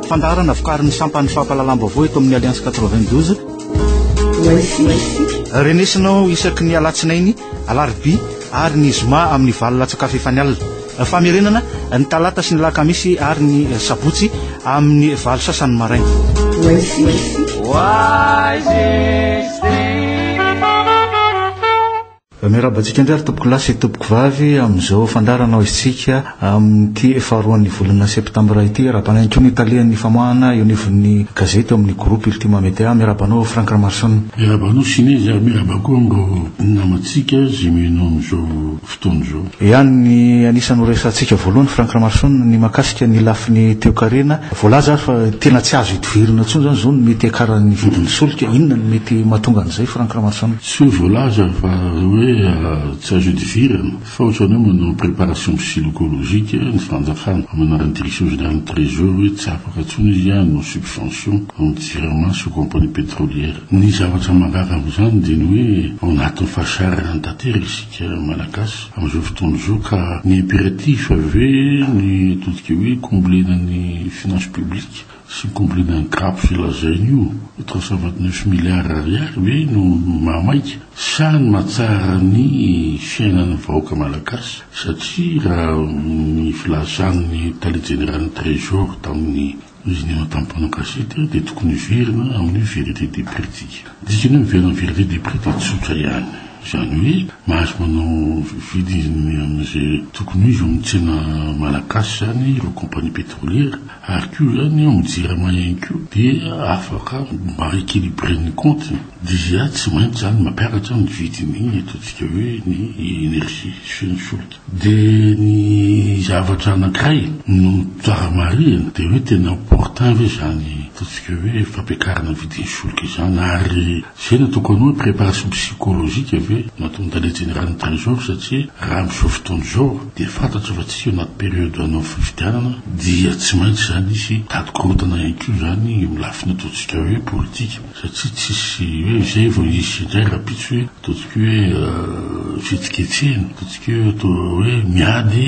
Fandaharana vokarin'ny sampan'ny fampahalalam-baovao eto amin'ny Alliance 92. Renesinao isaky ny alatsinainy, alarobia ary ny zoma amin'ny valo latsakafo efa ny alina. Famerenana ny talata sy ny lakamisy ary ny sabotsy amin'ny valo sasany maraina. Miarahaba antsika indray ry tompokolahy sy tompokovavy amin'izao fandaharana ho izintsika amin'ity faharoan'ny volana septambra ity. Arahaba ihany koa ny talen'ny famoahana eo anivon'ny gazety ao amin'ny groupe Ultima Media. Miarahaba anao Franck Ramaroson. Miarahaba anao Sinezy ary miarahaba koa amin'ireo namantsika izay mihaino amin'izao fotoana izao. Ihany ny anisan'ny ho resahantsika voalohany Franck Ramaroson ny mahakasika ny lafiny toekarena. Voalaza ary fa tena tsy azo idivirana intsony izany izao ny mety hiakaran'ny vidin'ny solika. Inona no mety mahatonga an'izay Franck Ramaroson? Tsy hoe voalaza fa hoe tsy azo idivirana fa ohatrany hoe manao préparation psylocologique ny fanjakana amin'ny anaran'ny Direction générale ny Trésor hoe tsy afaka intsony izy hanao subvention amin'ny Jirama sy compagnie pétrolière. Ny zavatra mahagaga amin'izany dia ny hoe ao anatin'ny fahasahiranana tanteraka isika Malagasy amin'izao fotoana izao ka ny impératif ve ny ataontsika hoe combler-na ny finances publiques Tsy complément grappes io lazainy io, trois cent vingt neuf milliards ariary ve no maha maika? Sa ny mahatsara ny fiainan'ny vahoaka malagasy? Satria raha ny filazan'ny tale jeneralin'ny trésor tamin'ny izy nihaona tamin'ny mpanao gazety dia tokony hiverina amin'io vérité des prix tsika. Dikany hoe miverina amin'ny vérité des prix dia tsotra ihany, izany hoe mahazo manao vidiny amin'izay tokony ho izy ao amin'ny tsena malagasy izany ireo compagnie pétrolière, Ary koa zany eo amin'ny jirama ihany koa dia afaka mba equilibrer ny compte-ny. Dia tsy maintsy zany mampiakatra ny vidin'ny ataontsika hoe ny énergie sy ny solika. Dia ny zavatra anankiray no tsara marihina dia hoe tena opportun ve izany ataontsika hoe fampiakarana ny vidin'ny solika izany ary. Zay no tokony hoe préparation psychologique ve no ataon'ny tale jeneraly ny trésor satria raha amin'izao fotoana izao dia fantatro fa tsy eo anaty période hanao fifidianana dia tsy maintsy izany hisy tady korontana ihany koa izany eo lafiny ataontsika hoe politique satria tsisy hoe izay vao hisy indray rahampitso hoe ataontsika hoe fihetsiketsehina ataontsika hoe atao hoe miady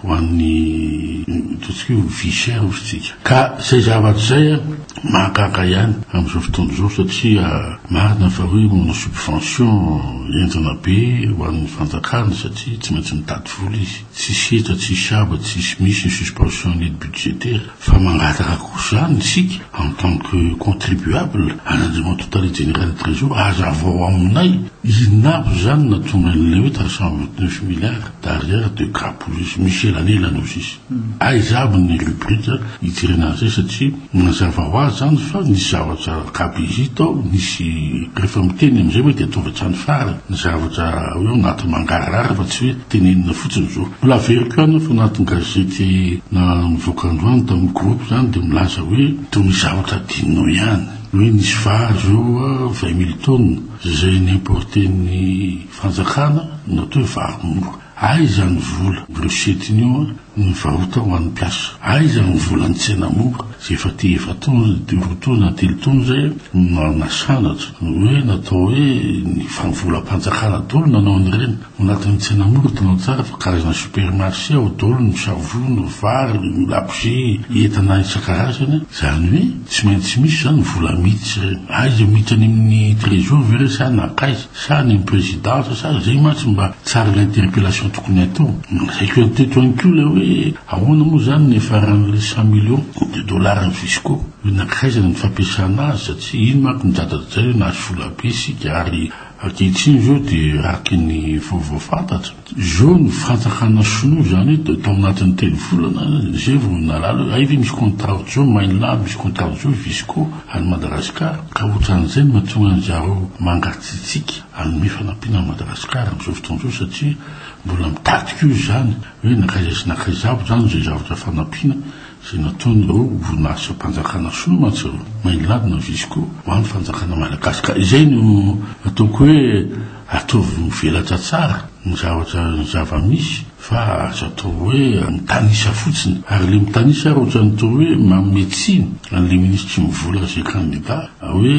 ho an'ny ataontsika hoe vie chère hozy tsika. Ka izay zavatra izay a, mahagaga ihany amin'izao fotoana izao satria marina fa hoe manao subvention enjana be ho an'ny fanjakana satria tsy maintsy mitady vola izy, tsisy hetra, tsisy haba, tsisy misy ny suspension an'aide budgétaire. Fa mangataka kosa zany isika en tant que contribuable an'Andriamatoa Tale Jeneraly Trésor azavao aminay inona aby zany natonga an'ilay hoe trois cent vingt neuf milliards d'arrière de grappouilleuses misy elanelany ao sisa. Aiza aby ny rubrique hijerena an'izay satria mazava ho azy zany fa nisy zavatra gabegie tao nisy rehefa miteny amin'izay hoe dia ataovy hatrany farany ny zavatra hoe ao anaty mangarahara fa tsy hoe Tenenina fotsiny zao. Mbola averiko ihany fa anatin'ny gazety na nivoaka androany tamin'ny groupe zany dia milaza hoe toy ny zavatra adinonao ihany hoe nisy vary zao vingt mille tonnes izay ni-importer-n'ny fanjakana na atao hoe vary mora. Aiza ny vola brochette-ny io ny varotra ho an'ny mpiasa? Aiza ny volan'ny tsena mora izay efa te efa tonnes de roa tonnes na telo tonnes izay no nasanatra hoe natao hoe ny volam-panjakana dolo nanao an'ireny? Ao anatin'ny tsena mora, hitanao tsara fa karazana supermarché ao daholo ny savony, vary, ny labozia, entana isan-karazany, izany hoe tsy maintsy misy izany vola miditra ireny. Aiza miditra any amin'ny trésor ve ireny sa nankaiza? Sa any amin'ny présidence sa izay mantsy mba tsara ilay interpellation tokony hatao. Nasaiko ihany teto ihany koa ilay hoe ahoana moa izany ny niafaran'ilay cent millions de dollars ny fisco? Hoe nankaiza ny fampiasana azy satria iny manko nidradradradraina hoe nahazo vola be isika ary Ankehitriny izao dia araka ny vaovao fantatra izao ny fanjakana sinoa izany dia tao anatin'ny telo volana izay vao nahalala hoe hay ve misy contrat ohatr'izao Maynla, misy contrat ohatr'izao Visco any Madagasikara ka ohatran'izay no mahatonga an-dry zareo mangatsiatsiaka hanome fanampiana an'i Madagasikara amin'izao fotoana izao satria mbola mitarika eo izany hoe nankaiza sy nankaiza avy izany izay zavatra fanampiana Izay nataon'ireo orinasam-panjakana sinoa mantsy ireo, Minelab na Visco, ho an'ny fanjakana malagasy. Ka izay no ataoko hoe ataovy mivelatra tsara ny zavatra, ny zava-misy fa aza atao hoe mitanisa fotsiny. Ary ilay mitanisa ary ohatran'ny toa hoe manome tsiny an'ilay minisitry ny vola izay kandida hoe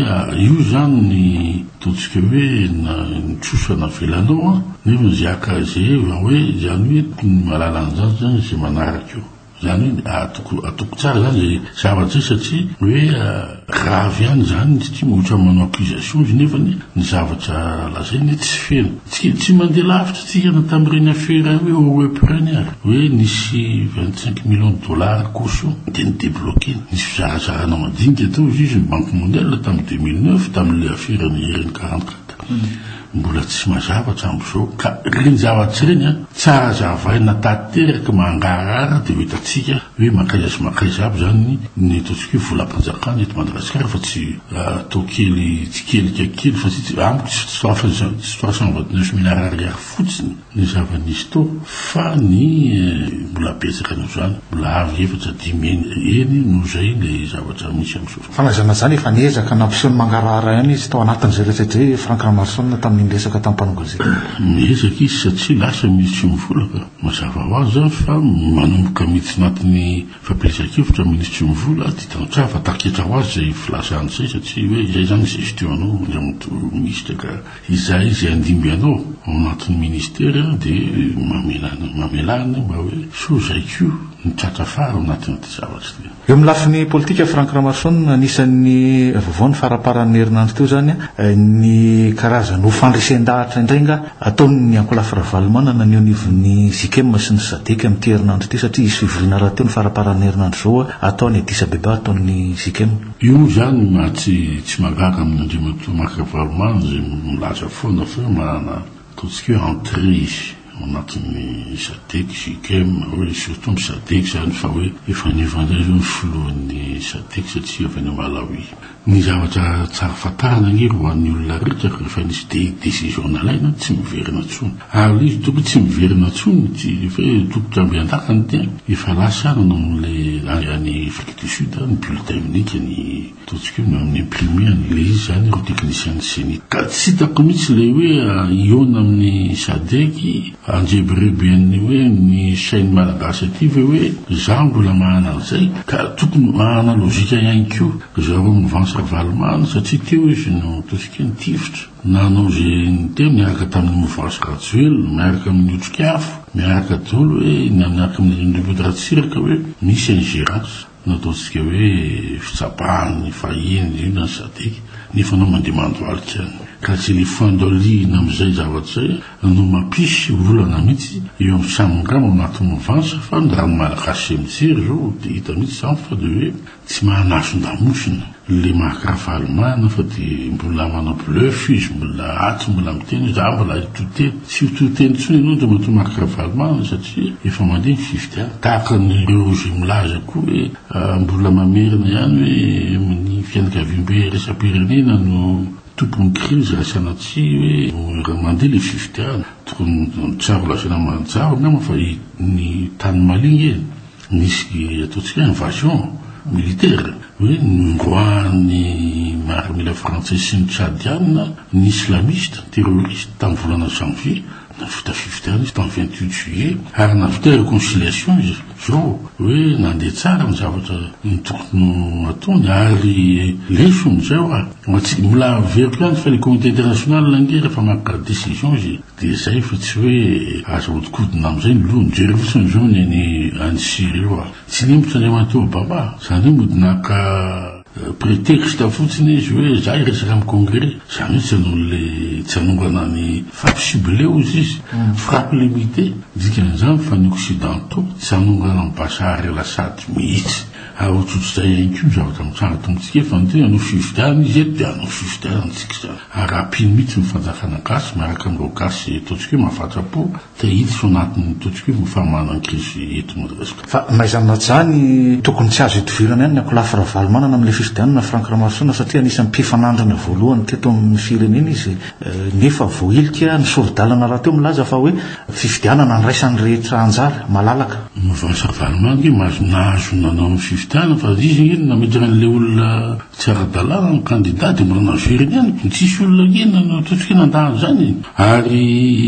io izany ny ataontsika hoe ny trosa navelanao an! Nefa izay haka izay hoe izany hoe tokony mahalala an'izany izany izay manaraka eo. Izany hoe atoko atoko tsara izany izay zavatra izay satria hoe grave ihany izany izy ity ohatran'ny manao accusation izy nefany ny zavatra lazainy hoe tsy feno. Tsy tsy mandeha lavitra isika na tamin'ireny afera hoe OEP ireny ary hoe nisy vingt cinq millions de dollars koso dia ni-debloquer-na. Nisy fizarazarana madinika teo izy izy ny banque mondiale tamin'ny deux mille neuf tamin'ilay aferan'ny ireny quarante quatre. Mbola tsy mazava hatramzao ka reny zavatra reny an tsara azavaina tateraky mangarahara de ho hitantsika hoe mankaiza sy mankaiza aby zany ny ataontsika hoe volampanjakana eto Madagasikara fa tsy atao kely tsikelika kely fa tsy amiko tsy trois cent vingt neuf milliards ariary fotsiny ny zava-nisy tao fa ny mbola betsaka noho izany, mbola avo efatra, dimy eny, eny noho izay ilay zavatra misy amin'izao fotoana. Fanazaina izany, efa niezaka nampiseho ny mangarahara ihany izy tao anatin'izay rehetra izay i Franck Ramaroson tamin'ny niresaka tamin'ny mpanao gazety. Miezaka izy satria lasa ny tsy mivola ka. Mazava ho azy fa manomboka miditra anatin'ny fampielezan-kevitra ny minisitry ny mivola dia tantara fa tafiketra ho azy izay filazany izay satria hoe izay izany ny gestion-nao, indray manontolo minisitra ka. Izahay izay handimby anao ao anatin'ny Ministera dia mamelana mamelà anay mba hoe sao izay koa no tratra fara ao anatin'ity zavatra ity. Eo amin'ny lafiny politika, Franck Ramason, anisan'ny vaovao ny faramparan'ny herinandro teo izany ny karazana ho fandresen-dahatra indray angaha ataon'ny ankolafy Ravalomanana ny eo anivon'ny Zikem sy ny Sadec amin'ity herinandro ity satria hisy fivoriana rahateo ny faramparan'ny herinandro izao atao any Addis Abeba ataon'ny Zikem. Io moa izany maha tsy tsy mahagaga amin'i Andriamatoa Marc Ravalomanana izay milaza foana fa hoe manana ataontsika hoe entrée ao anatin'ny Sadec, Jicem, hoe surtout ny Sadec izany fa hoe efa haniva indray izao ny filohan'ny Sadec satria avy any Malawi. Ny zavatra tsara fantarina ange ry ho an'ny olona rehetra fa rehefa nisy de décision nalaina tsy miverina intsony. Ary ilay izy tokony tsy miverina intsony, tsy hoe tokony hambean-daka ny tena, efa lasa ihany nanao an'ilay any Afrika. de suite a ny bulletin unique ny ataontsika hoe mi imprimer an ilay izy zany ireo techniciens ny cenit ka tsy hitako mihitsy ilay hoe hihaona amin'ny sadec handrebireby an'ny hoe ny chaine malagasy aty ve hoe za mbola manana an'izay ka tokony hanana logique ihany koa zareo mouvance ravalomanana satria teo izy no ataontsika hoe nitifitra Nanao izay niteny niaraka tamin'ny mouvance Rajoelina, miaraka amin'ny otrika afo, miaraka daholo hoe mianaka amin'ny Ndriamboto Ratsiraka hoe misy ingérence nataontsika hoe fitsapahan'ny fahiny indrindra ny Sadec nefa anao mandeha mandohalika any. Ka tsy ilay fandalihina amin'izay zavatra izay no mampisy olana mihitsy eo amin'ny samy ngamba ao anaty mouvance fa ny raha ny Malagasy izay mijery izao dia hita mihitsy izany fa dia hoe Tsy mahalafondamosina le Marc Ravalomanana fa de mbola manao bluff izy mbola ato mbola miteny hoe za mbola hitohy teny. Tsy ho tohy teny intsony enao Andriamatoa Marc Ravalomanana satria efa mandeha ny fifidianana. Tahaka an'ireo ze milaza koa hoe mbola mamerina ihany hoe ny fianakaviambe iraisam-pirenena no tompon'ny krizy raha sanatria hoe mandeha le fifidianana. Tokony tsara lazaina mazava angamba fa ny tany Mali nge e. Nisy ataontsika hoe invasion militaire hoe nondroahan'ny miaramila frantsay sy ny tchadiana ny islamiste, ny terroriste, tamin'ny volana janvier, nahavita fifidianana izy tamin'ny vingt huit juillet ary nahavita reconciliation izy izao hoe nandeha tsara ny zavatra ny tokony ataony ary lesona izay hoa ho antsika. Mbola averiko ihany fa ilay comité international ange rehefa maka decision izy, Dia izay fa tsy hoe aza ahodikodina amin'izay ny loha. Mijery fotsiny izao ny any any Syrie io aho. Tsy lempotra ny amatoa Obama. Izany hoe mody naka prétexte fotsiny izy hoe za hiresaka amin'ny congrès. Izany hoe tsy hanao le tsy hanongana ny frappe ciblée hoy izy izy. Frappe limitée. Ny dikan'izany fa ny occidentaux tsy hanongana an'i Bashar El Assad mihitsy. Ary ohatrohatr'izay ihany koa ny zavatra mitranga eto amintsika eto. Fa ny tena hanao fifidianana izy eto dia hanao fifidianana antsika izany. Arapino mihitsy ny fanjakana gasy miaraka amin'ireo gasy ataontsika hoe mafatrapo te hiditra ao anatin'ny ataontsika hoe famanana ny krizy eto Madagasikara. Fa n'aiza n'aja ny tokony tsy azo idivirana ihany ny ankolafy Ravalomanana amin'ilay fifidianana Franck Ramarosaona satria anisan'ny mpifanandrina voalohany teto amin'ny firenena izy nefa voahilika ny sori-dalana rahateo milaza fa hoe fifidianana andraisan'ny rehetra anjara malalaka. Mouvance Ravalomanana ange mahazo nahazo nanao ny fifidianana fa izy ange no nametraka an'ilay olona Tsy ara-dalàna ny kandida dia mbola naveriny ihany koa. Tsisy olona ange nanatontoka eny an-dahana izany e! Ary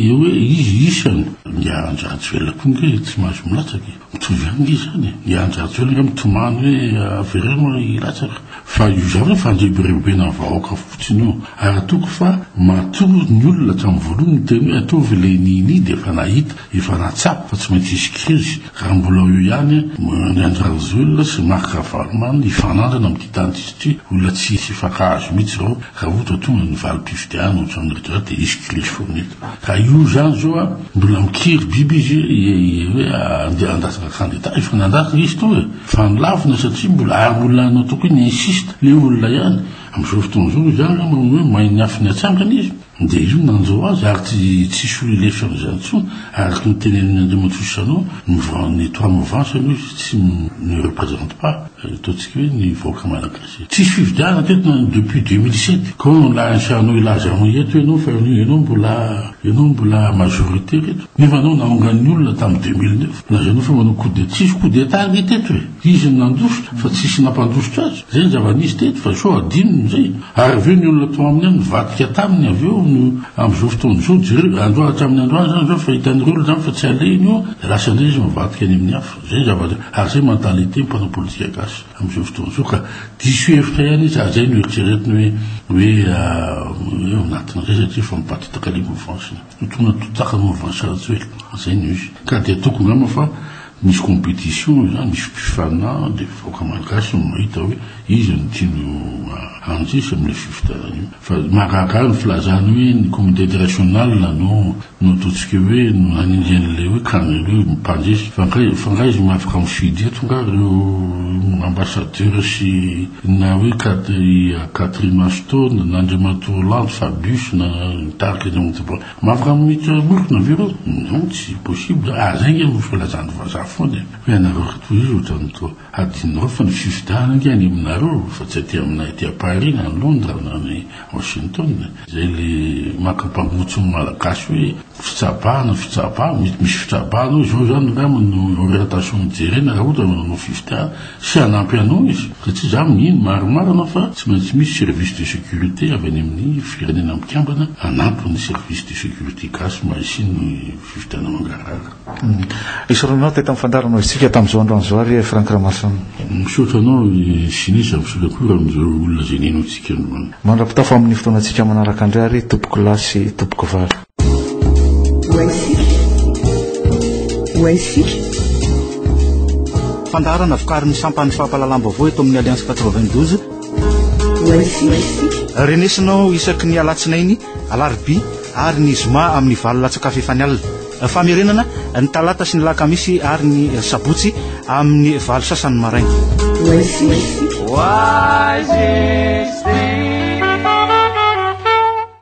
eo hoe izy isany. Ny Andry Rajoelina koa ange tsy mahazo milatsaka e! Mitovy ihany ange izany e! Ny Andry Rajoelina ange mitomany hoe avereno hilatsaka. Fa io izany hoe fandrebirebena ny vahoaka fotsiny io. Ary atoko fa matoa ny olona hatramin'ny voalohany niteny hoe ataovy ilay ni-ni dia efa nahita. Efa nahatsapa fa tsy maintsy hisy krizy raha mbola eo ihany ny Andry Rajoelina sy Marc Ravalomanana hifanandrina amin'ity tany tsisy ity. Olona tsy hisy hifankahazo mihitsy ireo raha ohatra hoe tonga ny valim-pifidianana ohatran'ny retraite dia hisy krizy foana eto. Ka io izany izao a! Mbola mikiry biby izy hoe andeha handatsa candidat. Efa nandatsa izy teo e! Fa nolavina satria mbola ary mbola nataoko hoe ni-insiste le olona ihany. Amin'izao fotoana izao izy ary angamba hoe mahay ny afo ny atsangany izy. Dia io nanjo azy ary tsy tsisy olona hilefitra amin'izany intsony, araka ny tenenin'i Andriamatoa Jeannot, ny vent ny toit mouvance aloha izy tsy ne represente pas, ataontsika hoe ny vahoaka malagasy. Tsisy fifidianana teto na depuis deux mille sept, koa no lain'i Jeannot hilaza anao eto ianao fa ianao ianao mbola ianao mbola majoritaire eto, nefa ianao naongan'ny olona tamin'ny deux mille neuf, lazainao fa manao coup d'etat, tsisy coup d'etat ange teto e! Izy no nandositra fa tsisy nampandositra azy, zay ny zava-nisy teto fa sao adinony izay, ary avy eo ny olona tao aminy ao nivadika taminy avy eo no amin'izao fotoana izao, jereo androany hatramin'ny androany izany izao fa hitan'ireo olona izany fa tsy alehiny io dia lasa indray izy mivadika any amin'ny hafa, zay ny zavatra, ary zay mentalité ny mpanao politika gasy amin'izao fotoana izao ka diso hevitra ihany izy ary zay no eritreretiny hoe hoe ao anatin'izay satria efa mipatitaka lia mouvance-ny. Totoina totaka ny mouvance Rajoelina, zay no izy. Ka dia tokony angamba fa misy competition izany, misy mpifana, dia vahoaka malagasy no mahita hoe iza no tiany handresy amin'ilay fifidianana io. Fa mahagaga ahy ny filazany hoe ny comité international no no ataontsika hoe no nanindry an'ilay hoe can hoe mpandresy. Fa nga fa nga izy mahafaka mifidy eto nga reo ambassadeur sy Na hoe Catherine Ashton, na Andriamatoa Hollande, Fabius, na mitarika ny Onde Blanche. Afaka mamita morona ve ireo? Non, tsy possible. Ary izay ange no filazan'ny vazaha foana e. Fa ianareo ry tohizo ohatran'ny toa hadinonareo fa ny fifidianana ange any aminareo fa tsy aty aminay aty à Paris na any Londres na any Washington. Izay le maka mpangotso ny Malagasy hoe fitsabahana, fitsabahana, mety misy fitrabahana ao izao izany angamba no orientation jerena raha ohatra manao fifidianana. sy hanampy anao izy ka tsy izaho mihiny, maromaro anao fa tsy maintsy misy service de sécurité avy any amin'ny firenena mikambana hanampy ny service de sécurité gasy mba hisian'ny fifidianana mangarahara. Isaoranao teto amin'ny fandaharanao isika tamin'izao androany izao ary Franck Ramason. Misaotra anao Siny sady misaotra koa amin'izao olona izay nenao antsika androany. Mandra-pitafo amin'ny fotoanantsika manaraka indray ary tompokolahy sy tompokovavy. Fandaharana vokarin'ny sampan'ny fampahalalam-baovao eto amin'ny Alliance 92. Renesinao isaky ny alatsinainy, alarobia ary ny zoma amin'ny valo latsaka fefany alina. Famerenana ny talata sy ny lakamisy ary ny sabotsy amin'ny valo sasany maraina. Why is this thing?